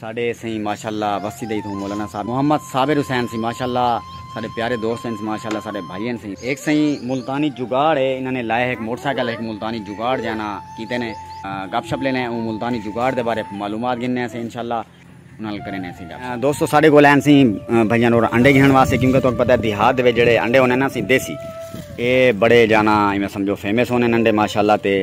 ساڈے سئیں ماشاءاللہ وسی دئی تھوں مولانا صاحب محمد صابر حسین سئیں ماشاءاللہ ساڈے پیارے دوست ہن ماشاءاللہ ساڈے بھائی ہن سئیں ہک سئیں ملتانی جگاڑ ہے انہاں نے لائے ہک موٹر سائیکل ہک ملتانی جگاڑ جانا کیتے نے گپ شپ لینے اوں ملتانی جگاڑ دے بارے معلومات گھننے سے انشاءاللہ انہاں نال کرینے سے گپ دوستو ساڈے کول ہیں سئیں بھائیاں نور انڈے گھن واسطے کیونکہ تو پتہ ہے دیہات دے جڑے انڈے ہونے نا سئیں دیسی اے بڑے جانا ایویں سمجھو فیمس ہونے انڈے ماشاءاللہ تے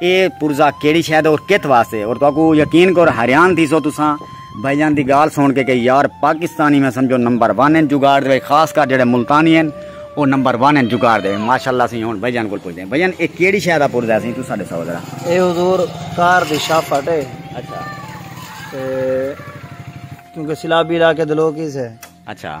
اے پرزہ کیڑی شے دا اور کت واسطے اور تہاکوں یقین کر حیران تھیسو تساں بھائی جان دی گال سن کے کہ یار پاکستانی میں سمجھو نمبر 1 ہیں جگاڑ دے خاص کر جڑے ملتانی ہیں او نمبر 1 ہیں جگاڑ دے ماشاءاللہ سی ہن بھائی جان کول پوچھدے ہیں بھائی جان اے کیڑی شے دا پرزہ سی تساں دسو ذرا اے حضور کار دی شاپٹ ہے اچھا تے کیونکہ سلابی علاقے دے لوگ ہی سے اچھا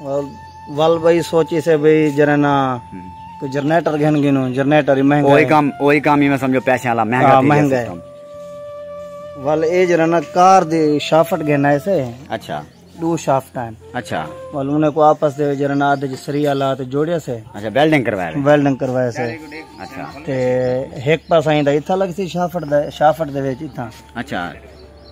ول بھائی سوچی سے بھائی جرنا تو جنریٹر گھن گنو جنریٹر ہی مہنگا ہے کام اوہی کام ہی میں سمجھو پیسے والا مہنگا ہاں، مہنگا ہے ول اے جرنا کار دی شافٹ گھن ہے سے اچھا دو شافٹ ہیں اچھا ول انہیں کو آپس دے جرنا ادھے جی سری والا تے جوڑیا سے اچھا ویلڈنگ کروایا ویلڈنگ کروایا سے اچھا تے ایک پاس آئیں دا اتھا لگ سی شافٹ دے شافٹ دے وچ اتھا اچھا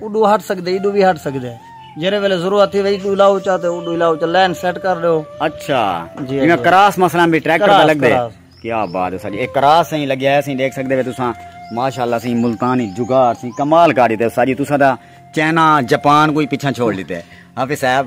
اڈو ہٹ سکدے ایڈو وی ہٹ سکدے جیرے ویلے ضرورت تھی وئی ڈو لاو چا تے اڈو لاو چا لین سیٹ کر دیو اچھا جی میں کراس مثلا بھی ٹریکٹر پہ لگ دے کیا بات ہے ساجی ایک کراس سہی لگیا ہے سہی دیکھ سکدے وے تساں ماشاءاللہ سہی ملتانی جگار سہی کمال کاری تے ساجی تساں دا چائنا جاپان کوئی پیچھے چھوڑ لیتے ہاں صاحب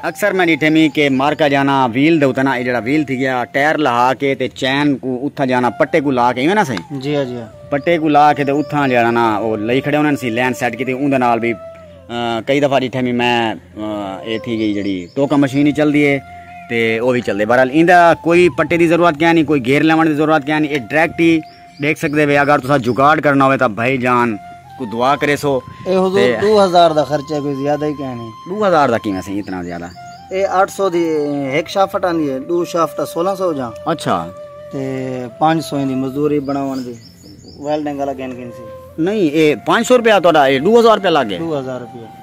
اکثر میں ڈیٹھے می کہ مارکا جانا ویل دے اتنا اے جڑا ویل تھی گیا ٹائر لہا کے تے چین کو اتھا جانا پٹے کو لا کے ایویں نا سائیں جی ہاں جی ہاں پٹے کو لا کے تے اتھا جڑا نا او لئی کھڑے انہاں سی لین سیٹ کیتی اون دے نال بھی کئی دفعہ ڈیٹھے می میں اے تھی گئی جڑی ٹوکا مشین ہی چل دی اے تے او بھی چل دے بہرحال ایندا کوئی پٹے دی ضرورت کیا نہیں کوئی گیئر لیون دی ضرورت کیا نہیں اے ڈائریکٹ ہی ڈیکھ سکدے وے اگر تساں جگاڑ کرنا ہوے تاں بھائی جان کو دعا کریسو اے حضور دو ہزار دا خرچہ کوئی زیادہ ہی کہنے دو ہزار دا کیویں سی اتنا زیادہ اے اٹھ سو دی ہک شافٹ آندی ہے دو شافٹ دا سولہ سو جاں اچھا تے پانچ سو دی مزدوری بناون دی ویلڈنگ والا گن گن سی نہیں اے پانچ سو روپیہ تہاڈا اے دو ہزار روپیہ لگ گئے دو ہزار روپیہ